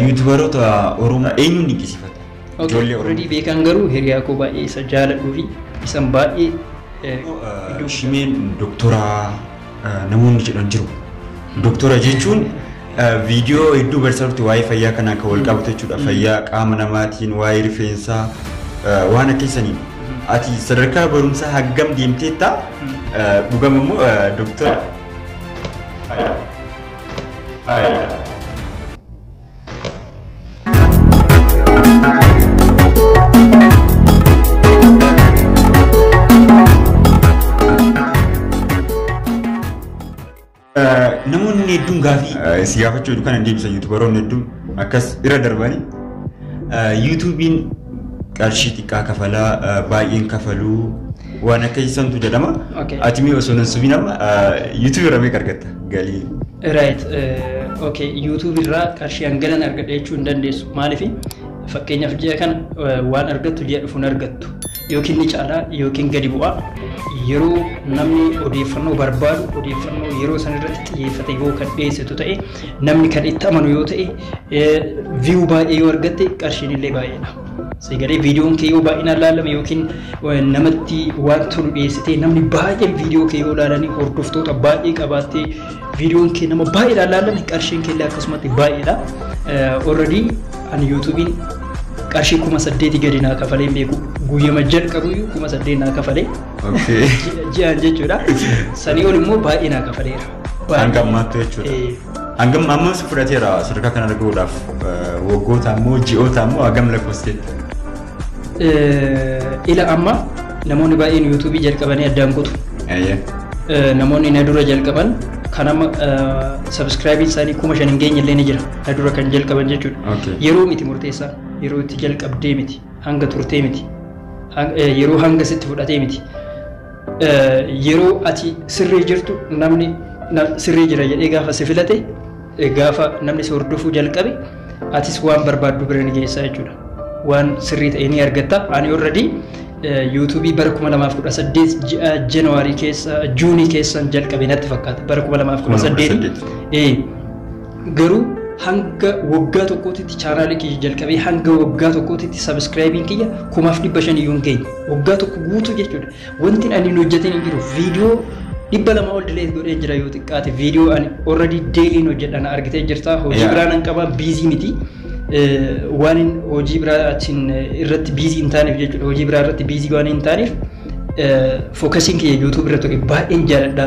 Yuutubaroota Oromoo eenyuun dinqisiifata? Okay, Ijoollee already Oromoo. beekaan garuu hiriyaa koo baay'ee isa jaaladhuu fi isan baay'ee eh, iddoo guddaa- Shimeen doktoraa eh, namoonni jedhan jiru. Doktora jechuun eh, viidiyoo hedduu barsiisaa turte waa'ee fayyaa kanaan kan wal qabatu jechuudha. Fayyaa qaama namaatiin, waa'ee rifeensaa, eh, waan akkasaniin. Ati sadarkaa barumsaa haggam deemteetta? Eh, Dhugama immoo eh, doktora. Namoonni hedduun gaafii si gaafachuu hedduu kana deebisa yuutubaroonni hedduun akkas irra darbanii yuutuubiin qarshii xiqqaa kafalaa baay'een kafaluu waan akka isantu jedhama. Okay. Ati mee osoo nan subiin amma YouTube irra meeqa argatta galii? Right. Uh, okay. YouTube irraa qarshii hanganan argadha jechuu hin dandeessu. Maaliif? Fakkeenyaaf ji'a kana uh, waan argattu ji'a dhufuun argattu. Yookiin ni caalaa yookiin gadi bu'a. Yeroo namni odeeffannoo barbaadu odeeffannoo yeroo san irratti xiyyeeffate yoo kan dhiyeessitu ta'e namni kan itti amanu yoo ta'e viyuu baay'ee yoo argatte qarshiin illee baay'eedha. Sagalee viidiyoon kee yoo baay'inaan laalame yookiin namatti waan tolu dhiyeessitee namni baay'een viidiyoo kee yoo laalanii hordoftoota baay'ee qabaattee viidiyoon kee nama baay'eedhaan laalame qarshiin kee illee akkasumatti baay'eedha. Already ani yuutuubiin qarshii kuma saddeeti gadi naa kafalee hin beeku guyyama jalqabuyyuu kuma saddeet naa kafalee Okay. ji'aan jechuudha. Sanii ol immoo baay'ee naa kafaleera. Hanga ammaatti jechuudha. Eh, Hangam amma si fudhateera sadarkaa kanarra gahuudhaaf waggoota ammoo ji'oota ammoo hagam lakkoofsiteetta? Ila amma namoonni baay'een yuutuubii jalqabanii addaan kutu. Namoonni na dura jalqaban kan amma sabiskiraayibiin isaanii kuma shan hin geenye illee ni jira. Na dura kan jalqaban jechuudha. Yeroo miti murteessaa yeroo itti jalqabdee miti hanga turtee miti yeroo hanga sitti fudhatee miti. Yeroo ati sirrii jirtu namni sirrii jira jedhee gaafa si filate gaafa namni si hordofuu jalqabe atis waan barbaaddu bira ni geessa jechuudha. Waan sirrii ta'e ni argatta. Ani already yuutuubii bara 2018 ji'a Januwaarii keessa Juunii keessan jalqabe natti fakkaata. Bara 2018 Garuu hanga waggaa tokkootitti chaanaalii kiyya jalqabee hanga waggaa tokkootitti sabiskiraayibiin kiyya kumaaf dhibba shan iyyuu hin geenye. Waggaa tokko guutuu jechuudha. Wanti ani hin hojjetin hin jiru. Viidiyoo dhibba lama ol dileet godhee jira yoo xiqqaate. Viidiyoo ani already deeliin hojjedha na argitee jirta. Hojii Yeah. biraa nan qaba biizii miti. Eh, Waan hin- hojii biraa achiin eh, irratti biizii hin taaneef jechuudha. Hojii biraa irratti biizii waan hin taaneef fookasiin kiyya yuutuub irra ture baay'een jaaladha.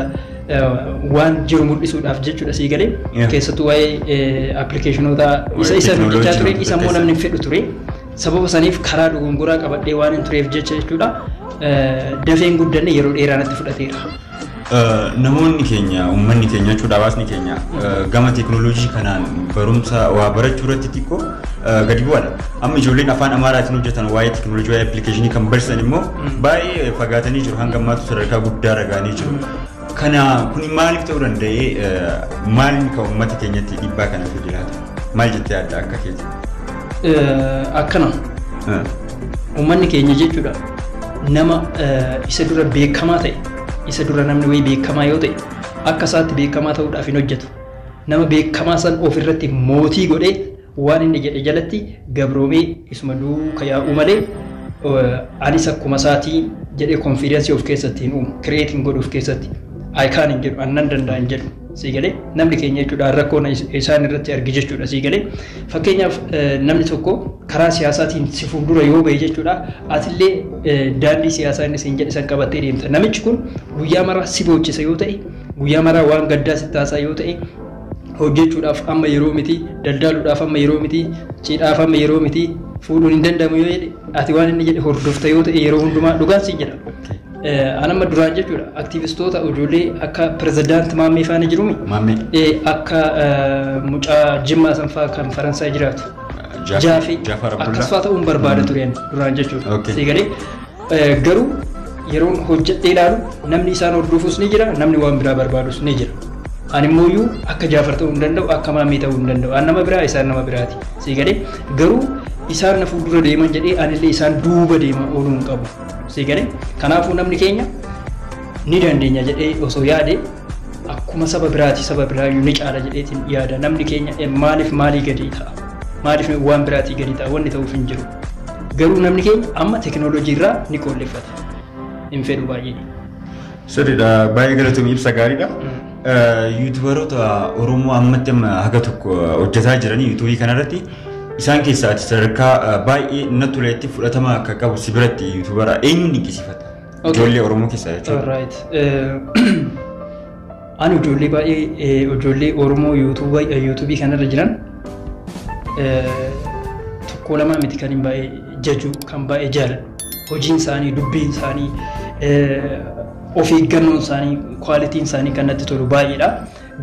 waan jiru mul'isuudhaaf jechuudha sii galee Yeah. keessattuu waa'ee appilikeeshinoota isa Waa'ee isa technology hojjechaa ture isa immoo namni hin fedhu ture sababa saniif karaa dogongoraa qabadhee waan hin tureef jecha jechuudha eh, dafeen guddanne yeroo dheeraa natti fudhateera. Eh, namoonni keenya uummanni keenya jechuudha hawaasni keenya eh, gama teekinooloojii kanaan barumsa waa barachuu irratti xiqqoo eh, gadi bu'aadha. Amma ijoolleen afaan Amaaraatiin hojjetan waa'ee teekinooloojii waa'ee appilikeeshinii kan barsiisan immoo baay'ee fagaatanii jiru hanga ammaatti sadarkaa guddaa ragaanii jiru. Kana kuni maaliif ta'uu danda'e maalni kan uummata keenyatti dhiibbaa kana fi jiraata maal jettee adda akka keeti? Akkana uummanni keenya jechuudha nama isa dura beekamaa ta'e isa dura namni wayii beekamaa yoo ta'e akka isaatti beekamaa ta'uudhaaf hin hojjetu nama beekamaa san ofirratti mootii godhee Waan inni jedhe jalatti gabroomee isuma duuka yaa'uu malee anis akkuma isaatii jedhee konfiidensii of keessatti hin uumu. Kireet hin godhu of keessatti. I can hin jedhu, an nan danda'a hin jedhu. Sii galee namni keenya jechuudha rakkoo na- isaan irratti argi jechuudha sii galee. Fakkeenyaaf eh, namni tokko karaa siyaasaatiin si fuuldura yoo ba'e jechuudha atillee eh, daandii siyaasaa inni siin jedhe san qabattee deemta. Namichi kun guyyaa maraa si boochisa yoo ta'e guyyaa maraa waan gaddaa si taasaa yoo ta'e hojjechuudhaaf amma yeroo miti, daldaaluudhaaf amma yeroo miti, cidhaaf amma yeroo miti, fuudhuun hin danda'amu yoo jedhe ati waan inni jedhe hordofta yoo ta'e yeroo hundumaa dhugaan siin jedha. An amma duraan jechuudha aktiivistoota ijoollee akka pirezidaanti Maammee faana jirumi. Maammee. Eh, Akka eh, mucaa Jimmaa san fa'aa kan Faransaay jiraatu. Jaafee- Jaafee Jaafar Abdullaa. akkas fa'aa ta'uun barbaada ture ani duraan jechuudha. Okay. Sii galee Garuu yeroon hojjedhee ilaalu namni isaan hordofus ni jira, namni waan biraa barbaadus ni jira. Ani immooyyuu akka Jaafar ta'uu hin danda'u, akka Maammee ta'uu hin danda'u. An nama biraa, isaan nama biraati. Sii galee? Garuu isaan na fuuldura deeman jedhee anillee isaan duuba deema ooluu hin qabu. Sii galee? Kanaafuu namni keenya ni dandeenya jedhee osoo yaade akkuma saba biraati saba biraayyuu ni caala jedheetiin yaada. Namni keenya maaliif maalii gadi ta'a? Maaliif waan biraatii gadi ta'a? Wanni ta'uuf hin jiru. Garuu namni keenya amma teekinooloojii irraa ni qoolleffata. Hin fedhu baay'ee. Sirriidha. Baay'ee galatoomii ibsa gaariidha. Yuutubaroota Oromoo ammatti amma haga tokko hojjetaa jiran yuutuubii kanarratti isaan keessaa ati sadarkaa baay'ee na toletti fudhatama akka qabu si biratti yuutubara eenyuun dinqisiifata? Ijoollee Oromoo keessaa jechuudha. Ani ijoollee baay'ee ijoollee Oromoo yuutuubii kanarra jiran tokko lama miti kan hin baay'ee jaju kan baay'ee jaaladhu. Hojiin isaanii, dubbiin isaanii, of eeggannoon isaanii, kwaalitiin isaanii kan natti tolu baay'eedha.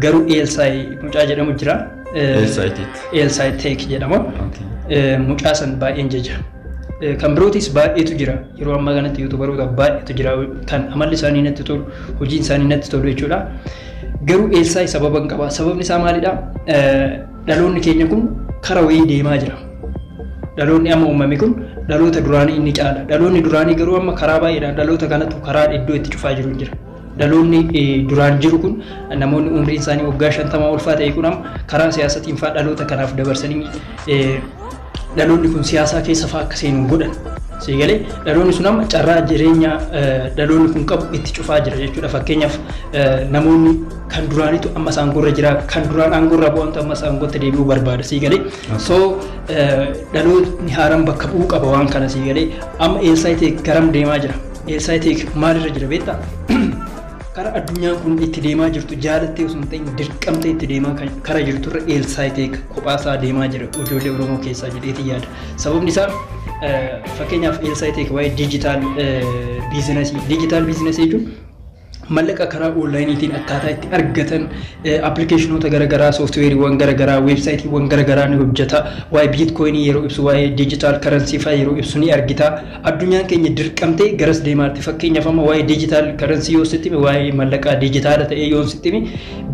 Garuu Eelsaay mucaa jedhamu jira. Eelsaay Teek jedhama. Mucaa san baay'een jaja. Kan birootis baay'eetu jira. Yeroo ammaa kanatti yuutubaroota baay'eetu jira kan amalli isaanii natti tolu, hojiin isaanii natti tolu jechuudha. Garuu Eelsaa'i sababa hin qaba. Sababni isaa maalidha? Dhaloonni keenya kun kara wayii deemaa jira. Dhaloonni amma uumame kun dhaloota duraanii inni caala. Dhaloonni duraanii garuu amma karaa baay'eedhaan dhaloota kanatu karaa iddoo itti cufaa jiru jira. Dhaloonni duraan jiru kun namoonni umriin isaanii waggaa shantamaa ulfaa ta'e kun amma karaa siyaasatiin faa dhaloota kanaaf dabarsanii dhaloonni kun siyaasaa keessa faa akka seenu godhan. Siigalee dhaloonni sun amma carraa jireenya dhaloonni kun qabu itti cufaa jira jechuudha. Fakkeenyaaf namoonni kan duraanitu amma isaan gorra jira kan duraan aangorra bu'antu amma isaan gotti deebi'uu barbaada siigalee. So dhaloonni haaraan bakka bu'uu qaba waan kana siigalee amma eessaa ta'e garam deemaa jira. Elsaayitik maalirra jira beektaa? Kara addunyaan kun itti deemaa jirtu jaalattee osoo hin ta'in dirqamtee itti deemaa kan kara jirturra Elsaayitik kophaasaa deemaa jira ijoollee Oromoo keessaa jedheetiin yaada. Sababni isaa eh, fakkeenyaaf Elsaayitik waa'ee diijitaal biizinasii diijitaal biizinasii jechuun mallaqa karaa oonlaayiniitiin akkaataa itti argatan appilikeeshinoota garagaraa sooftiweeriiwwan garagaraa weebsaayitiiwwan garagaraa ni hojjeta waa'ee biitkoyinii yeroo ibsu waa'ee diijitaal karansii fa'aa yeroo ibsu ni argita addunyaan keenya dirqamtee garas deemaarti fakkeenyaaf amma waa'ee diijitaal karansii yoo sitti hime waa'ee mallaqaa diijitaala ta'ee yoo sitti hime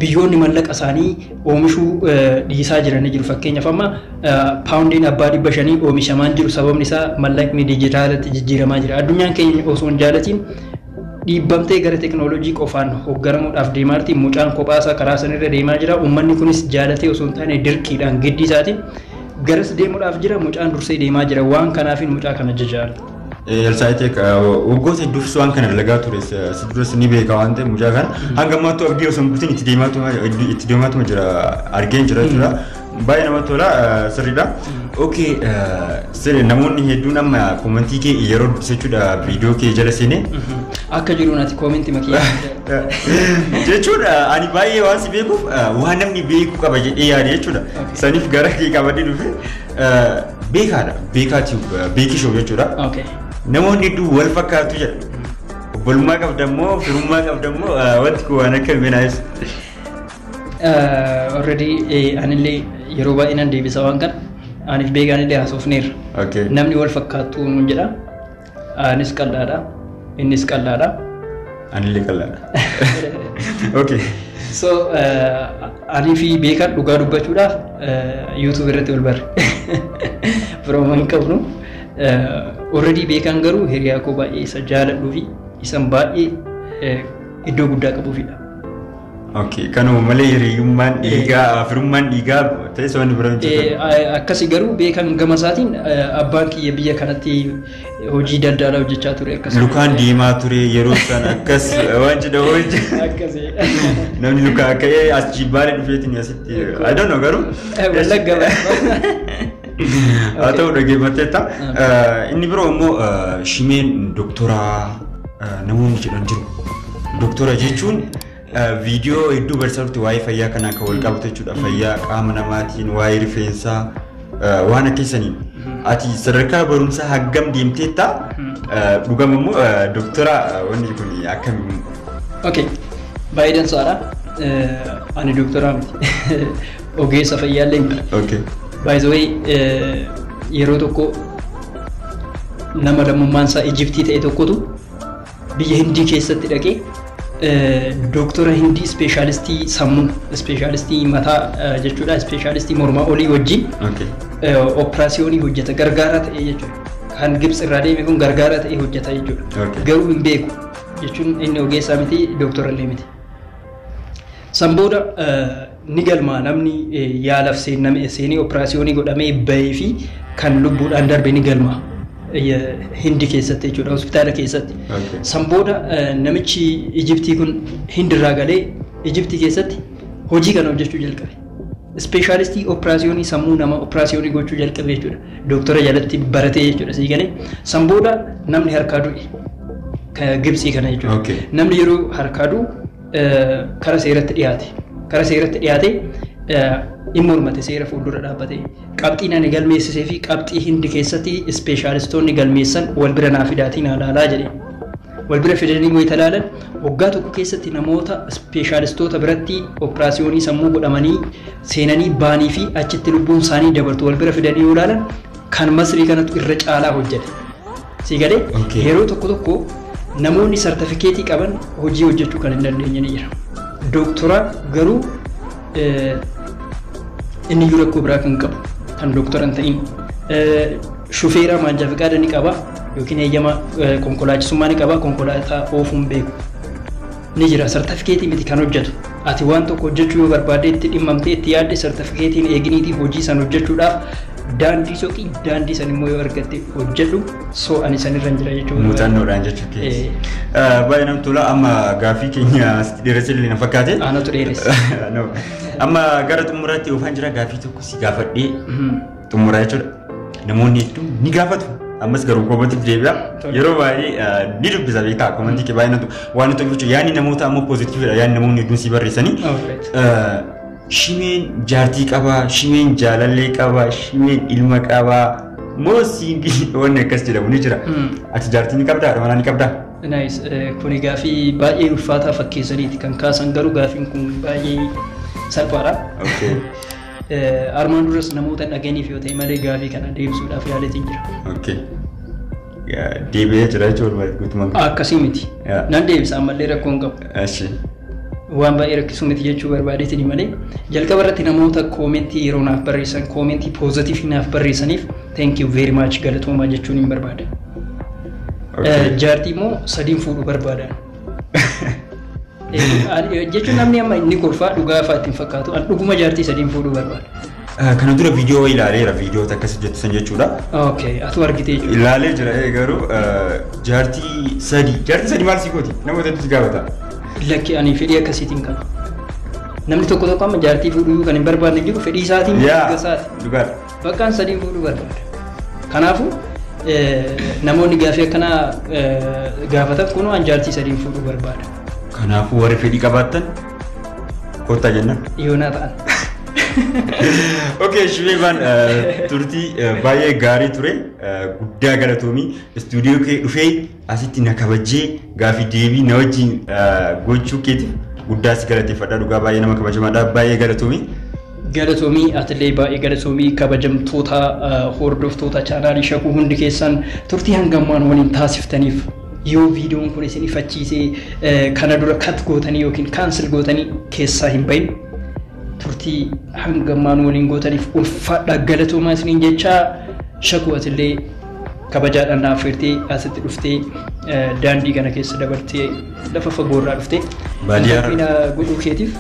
biyyoonni mallaqa isaanii oomishuu dhiisaa jiranii jiru fakkeenyaaf amma paawundiin abbaa dhibba shanii oomishamaan jiru sababni isaa mallaqni diijitaalatti jijjiiramaa jira addunyaan keenya osoo hin jaalatiin Dhiibbamtee gara teknolojii qofaan hogganamuudhaaf deemaarti. Mucaan kophaasaa karaa sanirra deemaa jira. Ummanni kunis jaalatee osoo hin taane dirqiidhaan giddii isaatiin garas deemuudhaaf jira. Mucaan dursee deemaa jira. Waan kanaafin mucaa kana jajaadha. Elsaayitek waggoota hedduufis waan kana dalagaa ture si duras ni beeka waan ta'eef mucaa kana hanga ammaattuu abdii osoo hin kutin itti deemaatuma jira argeen jira jechuudha. Baay'ee namatti tola sirriidha. Okay sirri namoonni hedduun amma koomentii kee yeroo dubbise jechuudha viidiyoo kee jala seenee. Akka jiruun ati koominti makee. Jechuudha ani baay'ee waan si beekuuf waan namni beekuu qaba jedhee yaade jechuudha. Saniif gara kee qabadee dhufe beekaadha beekaa tube beekii show jechuudha. Okay. Namoonni hedduu wal fakkaatu jedha. Obbolummaa qabda immoo firummaa qabda immoo wanti kun waan akka miinaa ibsa. Already anillee yeroo baay'ee nan deebisa waan kana. Aniif beekaan illee haasofneerra. Okay. Namni wal fakkaatu nuun jedha. Anis qal'aadha. Innis qal'aadha. Anillee qal'aadha. Okay. So anii fi beekaan dhugaa dubbachuudhaaf YouTube irratti wal barre. Firooma hin qabnu. Already beekaan garuu hiriyaa koo baay'ee isa jaaladhuu fi isan baay'ee iddoo guddaa qabuufidha. Okay, kanuma malee hiriyyummaan dhiigaa firummaan dhiigaa ta'es waan bira hin jirre. Akkasi garuu beekan gama isaatiin abbaan kiyya biyya kanatti hojii daldalaa hojjechaa ture akkasuma. Lukaan deemaa ture yeroo san akkas waan jedha hojii. Akkasi. Namni lukaa ka'ee as jibbaale dhufeetiin asitti. I don't know garuu. Wallagga Haa ta'u dhaggeeffatteetta. Inni biroo immoo shimeen doktoraa namoonni jedhan jiru. Doktora jechuun viidiyoo hedduu barsiisaa turte waa'ee fayyaa kanaan kan wal qabatu jechuudha. Fayyaa qaama namaatiin, waa'ee rifeensaa, waan akkasaniin. Ati sadarkaa barumsaa haggam deemteetta? Dhugama immoo doktora wanni kun akkamiin? Okay. Baay'ee dansaadha. Ani doktoraa miti. Ogeessa fayyaallee miti. Okay. By the way, yeroo tokko Nama lammummaan isaa Ijiptii ta'e tokkotu biyya Hindii keessatti dhaqee dooktora Hindii ispeeshaalistii sammuu, ispeeshaalistii mataa jechuudha, ispeeshaalistii mormaa olii wajjin operaasiyoonii hojjeta gargaaraa ta'e jechuudha. Kan Gibsi irraa deeme kun gargaaraa ta'e hojjeta jechuudha. Garuu hin beeku jechuun inni ogeessaa miti dooktora illee miti. San booda ni galmaa namni yaalaf seenname seenee operaasiyoonii godhamee bahee fi kan lubbuudhaan darbe ni galmaa. Hindi keessatti jechuudha hospitaala keessatti. Okay. San booda namichi Ijiptii kun Hindirraa galee Ijiptii keessatti hojii kana hojjechuu jalqabe. Ispeeshaalistii operaasiyoonii sammuu nama operaasiyoonii gochuu jalqabe jechuudha. Dooktora jalatti baratee jechuudha sii galee. San booda namni harkaa du'e. Ka Gibsii kana jechuudha. Okay. Namni yeroo harkaa du'u kara seeratti dhiyaate kara seeratti dhiyaate hin mormate seera fuuldura dhaabbate qabxiin ani galmeessisee fi qabxii hindi keessatti ispeeshaalistoonni galmeessan wal bira naa fidaatiin haalaalaa jedhe wal bira fidanii wayita ilaalan waggaa tokko keessatti namoota ispeeshaalistoota biratti operaasiyoonii sammuu godhamanii seenanii baanii fi achitti lubbuun isaanii dabartu wal bira fidanii yoo ilaalan Kan Masrii kanatu irra caalaa hojjeta. Sii galee? Okay. Yeroo tokko tokko namoonni sartifikeetii qaban hojii hojjechuu kan hin dandeenye ni jira. Dooktoraa garuu eh, inni iyyuu rakkoo biraa kan qabu kan dooktora hin ta'in. Eh, Shufeeraa maanjaa fiqaada ni qaba yookiin eeyyama eh, konkolaachisummaa ni qaba konkolaataa oofuun beeku. ni jira sartafikeetii miti kan hojjatu ati waan tokko hojjachuu yoo barbaadde itti dhimmamtee itti yaadde sartafikeetiin eeginiitii hojii san hojjachuudhaaf daandii soqii daandii san immoo yoo argatte hojjadhu soo ani san irra hin jira jechuudha. muuxannoodhaan jechuu keessa. Baay'ee namatti tola amma gaaffii keenya asitti dheeressa illee na fakkaate. Aanatu dheeressa. No. Amma gara xumuraatti oofaan jira gaaffii tokko si gaafadhee xumura jechuudha. Namoonni hedduun ni gaafatu. Ammas garuu koomatiif deebi'a. Yeroo baay'ee ni dubbisa beektaa koomantii kee baay'inatu waan nuti tolfachu yaadni namoota ammoo poozitiividha yaadni namoonni hedduun si barreessanii. Shimeen jaartii qabaa, shimeen jaalallee qabaa, shimeen ilma qabaa. Moo siingii wanni akkas jedhamu ni jira. Ati jaartii ni qabdaa? Haadha ni qabdaa? Naayis kuni gaafii baay'ee ulfaataa fakkeessaniiti kan kaasan garuu gaafiin kun baay'ee salphaadha. Okay. Armaan duras namoota dhaganiif yoo ta'e malee gaafii kana deebisuudhaaf yaaleetiin jira. Okay. Gaa- Deebi'ee jira jechuudha bari guutumaan. Akkasii miti. Yaa. Nan deebisa ammallee rakkoo hin qabu. Ashi. Waan baay'ee rakkisu miti jechuu barbaadeetiin malee jalqaba irratti namoota koomentii yeroo naaf barreessan koomentii poozatiivii naaf barreessaniif thank you very much galatoomaa jechuun hin barbaada. Okay. Jaartii immoo sadiin fuudhu barbaada. Jechuun namni amma inni kolfaa dhugaa fa'aa ittiin fakkaatu an dhuguma jaartii sadiin fuudhuu barbaada. Kana dura viidiyoo ilaaleera viidiyoo akkas jettu san jechuudha. Okay, atu argite jechuudha. Ilaalee jira ee garuu jaartii sadii jaartii sadii maal sii gooti nama hedduutu gaafata. Lakki ani fedhii akkasiitiin qaba. Namni tokko tokko amma jaartii fuudhuu kan hin barbaadne jiru fedhii isaatiin Yaa mirga isaati. dhugaadha. Bakka an sadiin fuudhuu barbaada. Kanaafuu namoonni gaafii akkanaa gaafatan kunoo an jaartii sadiin fuudhuu barbaada. Kanaafuu warri fedhii qabaattan kottaa jenna. Yoonaa ta'an. Okay, Shibeebaan turtii baay'ee gaarii ture. Guddaa galatoomii istuudiyoo kee dhufee Asitti na kabajjee gaafii deebii na wajjin gochuu keetiif guddaa si galateeffadha. Dhugaa baay'ee nama kabajamaadha. Baay'ee galatoomii. Galatoomii atilee baay'ee galatoomii kabajamtoota hordoftoota chaanaalii shakuu hundi keessan turtii hangammaan waliin taasiftaniif yoo viidiyoon kun isin ifachiisee kana dura kat gootanii yookiin kaansil gootanii keessaa hin bahin turtii hangammaan waliin gootaniif ulfaadha galatoomaa isiniin jechaa shakuu atilee Kabajaadhaan na affeertee asitti dhuftee eh, daandii kana keessa dabartee lafa fagoo irraa dhuftee Baadiyyaa irraa. Interview na godhuu keetiif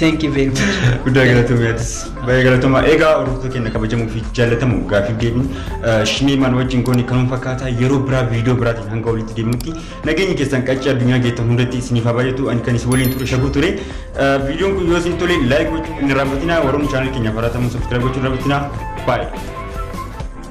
thank you very much. Guddaa galatoomii atis baay'ee galatoomaa. Egaa hordoftoota keenya kabajamoo fi jaallatamu gaaffiif deebiin shimeemaan wajjin goone kanuma fakkaataa yeroo biraa viidiyoo biraatiin hanga walitti deemutti nageenyi keessan qaccee addunyaa geettan hundatti isiniif haa baay'atu ani kan isin waliin ture shaguu ture. Eh, Viidiyoon kun yoo isin tole laayik gochuu hin raawwatinaa warroonni chaanal keenya faraatamu sabskiraayib gochuu hin raawwatinaa baay'ee.